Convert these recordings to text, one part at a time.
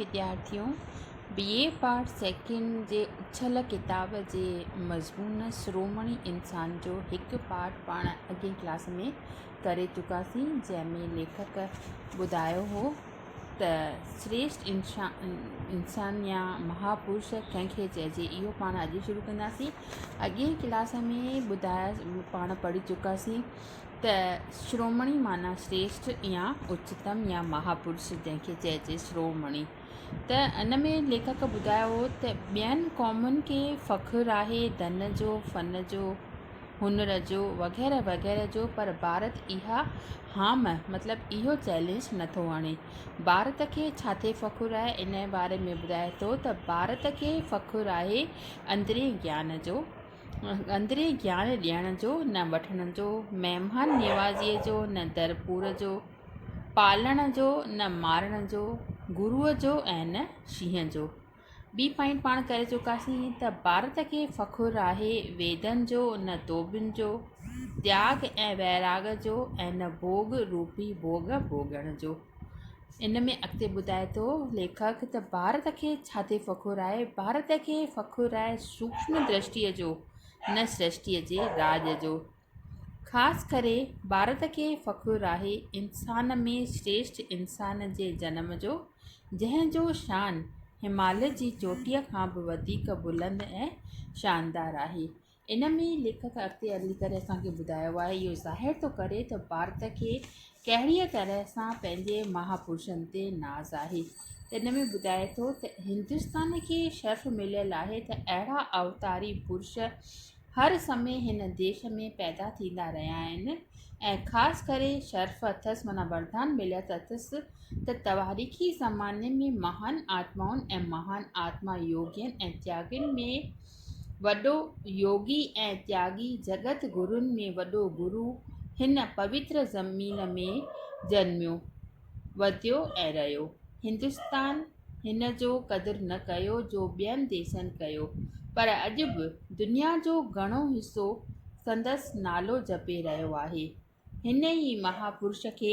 وديارٿيون B A part second جي اڇل ڪتاب جي مضمون شرومڻي انسان جو هڪ پارٽ پاڻ اڳين ڪلاس ۾ ڪري چڪاسين جنهن ۾ ليکڪ ٻڌايو هو ته سريشٽ انسان يا مها پرش ڪنهن کي چئجي اهو پاڻ اڄ شروع ڪنداسين اڳين ڪلاس ۾ ٻڌايا پاڻ پڙهي چڪاسين ته شرومڻي معنيٰ شريشٺ يا اچتم يا مها پرش جنهن کي چئجي شرومڻي ته ان ۾ ليکڪ ٻڌايو هو ته ٻين قومن کي فخر آهي ڌن جو، فن جو، هنر جو وغيره وغيره جو پر ڀارت اها هام مطلب اهو چئلينج نه ٿو هڻي. ڀارت کي ڇا تي فخر آهي انهيء باري ۾ ٻڌائي ٿو ته ڀارت کي فخر آهي اندرين گيان جو، اندرين گيان ڏيڻ جو نه وٺڻ جو، مهمان نوازيء جو نه در پور جو، پالڻ جو نه مارڻ جو، گروء جو ۽ نه شينهن جو. ٻي پوائنٽ پاڻ ڪري چڪاسين ته ڀارت کي فخر آهي ويدن جو نه ڌوٻين جو، تياڳ ۽ ويراڳ جو ۽ نه ڀوڳ روپي ڀوڳ ڀوڳڻ جو. ان ۾ اڳتي ٻڌائي ٿو ليکڪ ته ڀارت کي ڇا تي فخر آهي، ڀارت کي فخر آهي سوڪشم درشٽيء جو نه سرشٽيء جي راڄ جو. خاص ڪري ڀارت کي فخر آهي انسان ۾ سريشٽ انسان جي جنم جو جنهن جو شان هماليه جي چوٽيء کان به وڌيڪ بلند ۽ شاندار آهي. ان ۾ ليکڪ اڳتي هلي ڪري اسان کي ٻڌايو آهي اهو ظاهر ٿو ڪري ته ڀارت کي ڪهڙيء طرح سان پنهنجي مها پرشن تي ناز آهي ته ان ۾ ٻڌائي ٿو ته هندستان کي شرف مليل آهي ته اهڙا اوتاري پرش هر سمي هن ديش ۾ پيدا ٿيندا رهيا آهن ۽ خاص ڪري شرف اٿس معنيٰ وردان مليل اٿس ته تواريخي زماني ۾ مهان آتمائن ۽ مهان آتما يوگين ۽ تياگين ۾ وڏو يوگي ۽ تياڳي جڳت گرون ۾ وڏو گرو هن پوتر زمين ۾ جنميو وڌيو ۽ رهيو. هندستان هن جو قدر نه ڪيو جو ٻين ديسن ڪيو پر اڄ به دنيا جو گهڻو حصو سندس نالو جپي رهيو آهي. هن ئي مهاپرش کي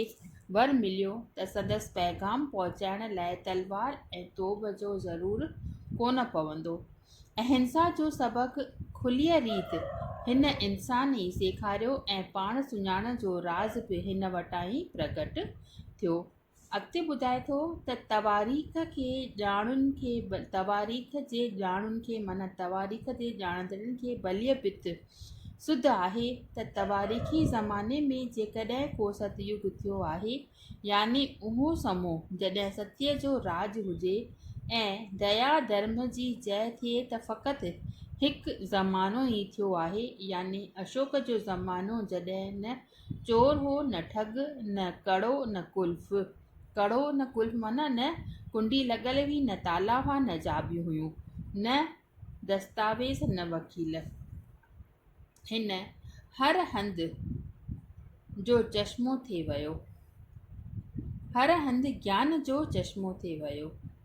ور مليو ته سندس پيغام پهچائڻ لاء تلوار ۽ توب جو ضرور ڪونه پوندو. اهنسا جو سبق کليء ريت هن انسان ئي سيکاريو ۽ پاڻ سڃاڻڻ جو راز به هن وٽان ئي پرگٽ ٿيو. اڳتي ٻڌائي ٿو ته تواريخ کي ڄاڻن کي تواريخ جي ڄاڻن کي معنيٰ تواريخ جي ڄاڻندڙن کي ڀليء ڀت سڌ آهي ته تواريخي زماني ۾ جيڪڏهن ڪو ست يگ ٿيو آهي يعني اهو سمو جڏهن ستيء جو راڄ هجي ۽ ديا ڌرم جي جئه ٿئي ته فقط هڪ زمانو ئي ٿيو آهي يعني اشوڪ جو زمانو جڏهن نه چور هو نه ٺڳ، نه ڪڙو نه قلف. ڪڙو نه قلف معنيٰ نه ڪنڊي لڳل هئي، نه تالا هئا، نه چاٻيون هيون، نه دستاويز، نه وڪيل. هن هر هنڌ جو چشمو ٿي ويو. هر هنڌ گيان جو چشمو ٿي ويو.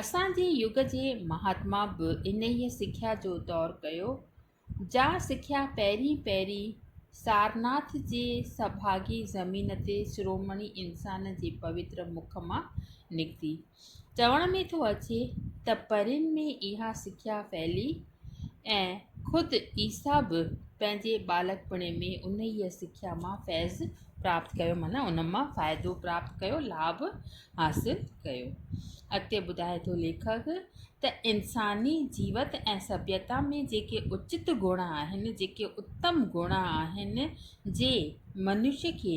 اسان جي يگ جي مهاتما به انهيء سکيا جو دور ڪيو، جا سکيا پهرين پهرين سارناٿ جي سڀاڳي زمين تي شرومڻي انسان جي پوتر مک مان نڪتي. چوڻ ۾ ٿو اچي ته پرين ۾ اها سکيا ڦهلي ۽ خود عيسيٰ به پنهنجي ٻالڪپڻي ۾ انهيء سکيا مان فيض پراپت ڪيو معنيٰ ان مان فائدو پراپت ڪيو لاڀ حاصل ڪيو اڳتي ٻڌائي ٿو ليکڪ ته انساني جيوت ۽ سڀيتا ۾ جيڪي اچت گڻ آهن جيڪي اتم گڻ آهن جي منش کي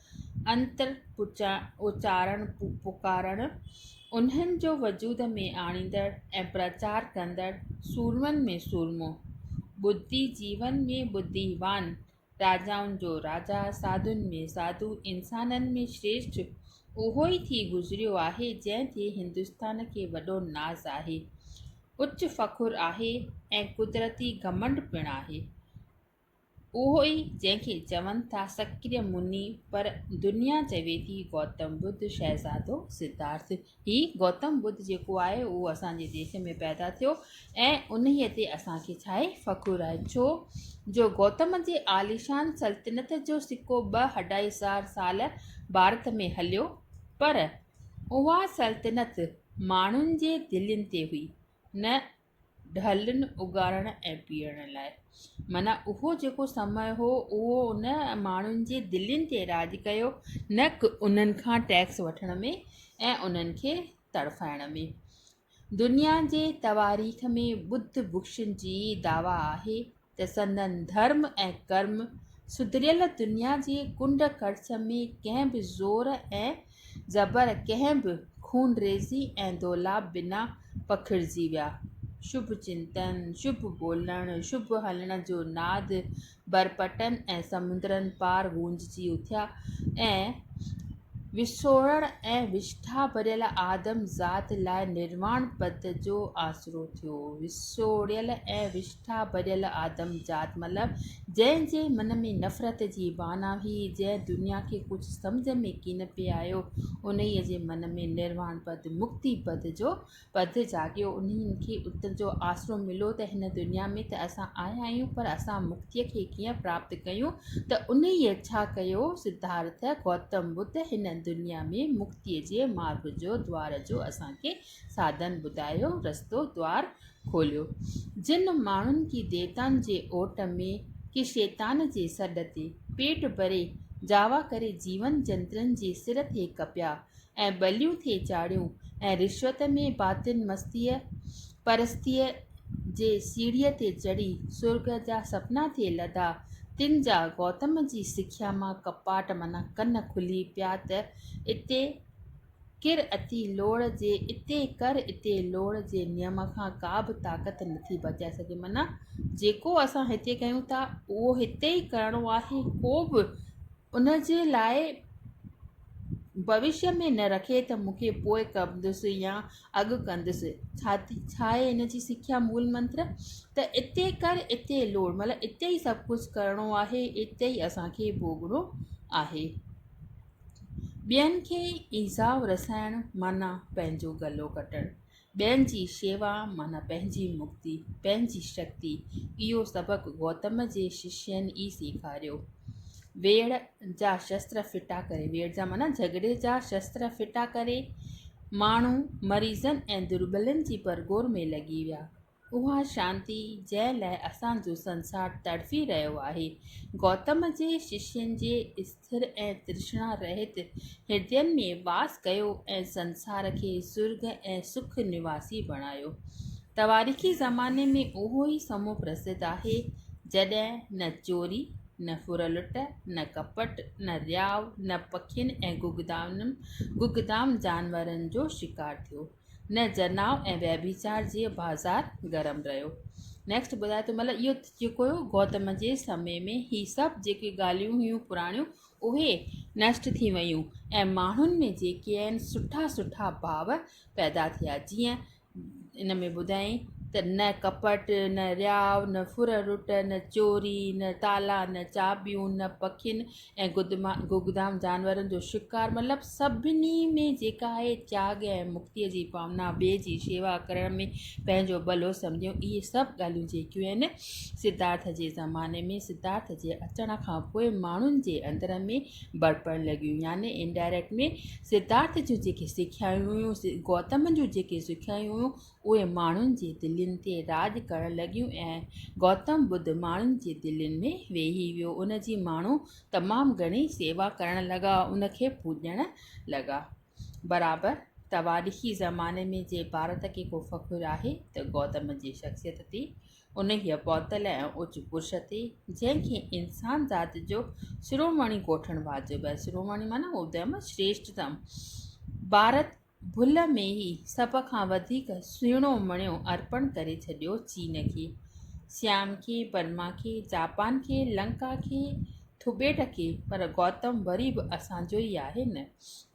انتر اچارڻ پڪارڻ، انهن جو وجود ۾ آڻيندڙ ۽ پرچار ڪندڙ سورمن ۾ سورمو، ٻڌي جيون ۾ ٻڌيوان، راجائن جو راجا، ساڌن ۾ ساڌو، انسانن ۾ شريشٺ اهو ئي ٿي گذريو آهي جنهن تي هندستان کي وڏو ناز آهي، اچ فخر آهي ۽ قدرتي گهمنڊ پڻ آهي. اهو ئي جنهن کي چون ٿا سڪريا مني پر دنيا چوي ٿي گوتم ٻڌ شهزادو سڌارٿ. هي گوتم ٻڌ جيڪو آهي اهو اسان جي ديس ۾ پيدا ٿيو ۽ انهيء تي اسان کي ڇا آهي فخر آهي ڇو جو گوتم جي عاليشان سلطنت جو سڪو ٻه اڍائي هزار سال ڀارت ۾ هليو پر اها سلطنت ماڻهن جي دلين تي هئي نه ڍلن اگهاڙڻ ۽ پيئڻ لاء. معنيٰ اهو جيڪو سمئ هو، اهو ان ماڻهن جي دلين تي راڄ ڪيو، نه ڪه انهن کان ٽيڪس وٺڻ ۾ ۽ انهن کي تڙڦائڻ ۾. دنيا جي تواريخ ۾ ٻڌ ڀڪشن جي دعويٰ آهي، ته سندن ڌرم ۽ ڪرم سڌريل دنيا جي ڪنڊ ڪڙڇ ۾ ڪنهن به زور ۽ زبر، ڪنهن به خونريزي ۽ دولاب بنا پکڙجي ويا. شڀ چنتن، شڀ ٻولڻ، شڀ هلڻ جو ناد برپٽن ۽ سمندرن پار گونججي اٿيا ۽ وسوڙڻ ۽ وشٺا ڀريل آدم ذات لاء نرواڻ پد جو آسرو ٿيو. وسوڙيل ۽ وشٺا. ٺا ڀڄل آدم ذات مطلب جنهن جي من ۾ نفرت جي بانه هئي، جنهن دنيا کي ڪجهه سمجهه ۾ ڪين پئي آيو، انهيء جي من ۾ نرواڻ پد، مڪتي پد، جو پد جاڳيو، انهيء کي اتر جو آسرو مليو ته هن دنيا ۾ ته اسان آيا آهيون پر اسان مڪتيء کي ڪيئن پراپت ڪيون ته انهيء ڇا ڪيو؟ سڌارٿ گوتم ٻڌ هن دنيا ۾ مڪتيء جي مارڳ جو، دوار جو اسان کي ساڌن ٻڌايو، رستو، دوار، کوليو، جن ماڻهن ڪي ديوتائن جي اوٽ ۾، ڪي شيطان جي سڏ تي، پيٽ ڀري جاوا ڪري جيون جنترن جي سر ٿي ڪپيا ۽ ٻليون ٿي چاڙهيون ۽ رشوت ۾ باطن مستيء پرستيء جي سيڙهيء تي چڙهي سرڳ جا سپنا ٿي لڌا، تن جا گوتم جي سکيا مان ڪپاٽ معنيٰ ڪن کلي پيا ته اتي، ڪر اتي لوڙ جي اتي ڪر اتي لوڙ جي نيم کان ڪا به طاقت نٿي بچائي سگهي معنيٰ جيڪو اسان هتي ڪيون ٿا اهو هتي ئي ڪرڻو آهي ڪو به ان جي لاء ڀوشيء ۾ نه رکي ته مون کي پوء ڪندس يا اڳ ڪندس ڇا ٿي ڇا آهي ان جي سکيا مول منتر ته اتي ڪر اتي لوڙ مطلب اتي ئي سڀ ڪجهه ڪرڻو آهي اتي ئي اسان کي ڀوڳڻو آهي ٻين کي ايذاء رسائڻ معنيٰ پنهنجو گلو ڪٽڻ، ٻين جي شيوا معنيٰ پنهنجي مڪتي، پنهنجي شڪتي، اهو سبق گوتم جي ششين ئي سيکاريو. ويڙهه جا شستر ڦٽا ڪري، ويڙهه جا معنيٰ جهڳڙي جا شستر ڦٽا ڪري، ماڻهو مريضن ۽ دربلن جي پرگور ۾ لڳي ويا، اها شانتي جنهن لاء اسان جو سنسار تڙڦي رهيو آهي، گوتم جي ششين جي اسٿر ۽ ترشنا رهت هردين ۾ واس ڪيو ۽ سنسار کي سرڳ ۽ سک نواسي بڻايو. تواريخي زماني ۾ اهو ئي سمو پرسڌ آهي، جڏهن نه چوري، نه ڦرلٽ، نه ڪپٽ، نه رياء، نه پکين ۽ گگدامن گگدام جانورن جو شڪار ٿيو. نه جناء ۽ ويڀچار جي بازار گرم رهيو. Next ٻڌائي ٿو مطلب اهو جيڪو هيو گوتم جي سمي ۾ هي سڀ جيڪي ڳالهيون هيون پراڻيون اهي نشٽ ٿي ويون ۽ ماڻهن ۾ جيڪي آهن سٺا سٺا ڀاو پيدا ٿيا جيئن ان ۾ ٻڌائين ته نه ڪپٽ نه رياء نه ڦر رٽ نه چوري نه تالا نه چاٻيون نه پکين ۽ گگدام جانورن جو شڪار مطلب سڀني ۾ جيڪا آهي تياڳ ۽ مڪتيء جي ڀاونا ٻئي جي شيوا ڪرڻ ۾ پنهنجو ڀلو سمجهيو اهي سڀ ڳالهيون جيڪيون آهن سڌارٿ جي زماني ۾ سڌارٿ جي اچڻ کان پوء ماڻهن جي اندر ۾ برپڻ لڳيون يعني انڊائريڪٽ ۾ سڌارٿ جون جيڪي سکيائون هيون گوتم جون جيڪي سکيائون هيون اهي ماڻهن جي دلين تي راڄ ڪرڻ لڳيون ۽ گوتم ٻڌ ماڻهن جي دلين ۾ ويهي ويو. ان جي ماڻهو تمام گهڻي سيوا ڪرڻ لڳا، ان کي پوڄڻ لڳا. برابر تواريخي زماني ۾ جي ڀارت کي ڪو فخر آهي ته گوتم جي شخصيت تي، انهيء پوتل ۽ اوچ پرش تي، جنهن کي انسان ذات جو شرومڻي ڪوٺڻ واجب آهي. شرومڻي معنيٰ ادم شريشٽتم. ڀارت. ڀل ۾ هي سڀ کان وڌيڪ سهڻو مڻيو ارپڻ ڪري ڇڏيو چين کي، سيام کي، برما کي، جاپان کي، لنڪا کي، ٿبيٽ کي پر گوتم وري به اسان جو ئي آهي نه!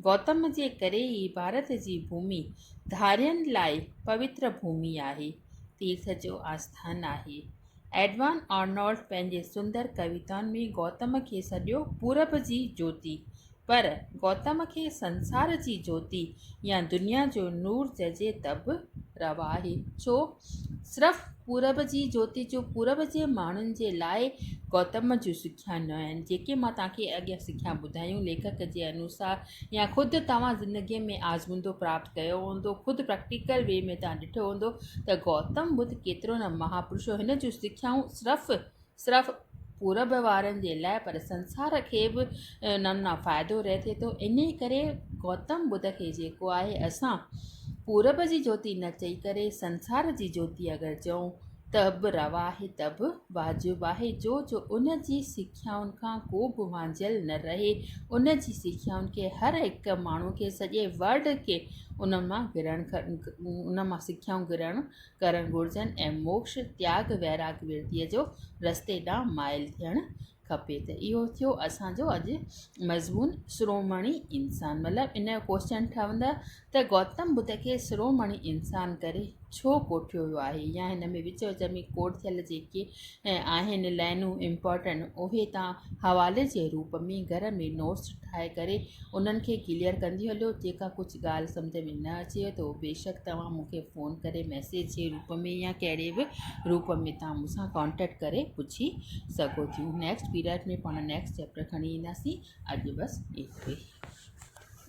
گوتم جي ڪري ئي ڀارت جي ڀومي ڌارين لاء پوتر ڀومي آهي، تيرٿ جو آسٿان آهي. ايڊوان آرنولڊ پنهنجي سندر ڪويتائن ۾ گوتم کي سڏيو پورب جي جوتي، پر گوتم کي سنسار جي جوتي يا دنيا جو نور چئجي ته به روا آهي. ڇو؟ صرف پورب جي جوتي جو پورب جي ماڻهن جي لاء گوتم جون سکيا نه آهن. جيڪي مان توهان کي اڳيان سکيا ٻڌايون، ليکڪ جي انوسار يا خود توهان زندگيء ۾ آزمودو پراپت ڪيو هوندو، خود پريڪٽيڪل وي ۾ توهان ڏٺو هوندو ته گوتم ٻڌ ڪيترو نه مهاپرش هو. هن جون سکيائون صرف صرف پورب وارن جي لاء پر سنسار کي به نم نا فائدو رهي ٿي ٿو انهي ڪري گوتم ٻڌ کي جيڪو آهي اسان پورب جي جوتي نه چئي ڪري سنسار جي جوتي اگر چئون ته به روا آهي ته به واجب آهي جو جو ان جي سکيائن کان ڪو به وانجهيل نه رهي ان جي سکيائن کي هر هڪ ماڻهو کي سڄي ورلڊ کي ان مان گرهڻ ان مان سکيائون گرهڻ ڪرڻ گهرجن ۽ موڪش، تياڳ، ويراڳ، ورديء جو رستي ڏانهن مائل ٿيڻ کپي ته اهو ٿيو اسان جو اڄ مضمون شرومڻي انسان مطلب ان جو ڪوشچن ٺهندو ته گوتم ٻڌ کي شرومڻي انسان ڪري ڇو ڪوٺيو ويو آهي يا هن ۾ وچ وچ ۾ ڪوٽ ٿيل جيڪي آهن لائنون امپارٽنٽ اهي تان حوالي جي روپ ۾ گهر ۾ نوٽس ٺاهي ڪري انهن کي ڪليئر ڪندي هليو جيڪا ڪجهه ڳالهه سمجهه ۾ نه اچيو ته بيشڪ توهان مون کي فون ڪري ميسيج جي روپ ۾ يا ڪهڙي به روپ ۾ توهان مون سان ڪانٽيڪٽ ڪري پڇي سگهو ٿيون نيڪسٽ پيريڊ ۾ پاڻ نيڪسٽ چيپٽر کڻي اينداسين اڄ بس ايترو ئي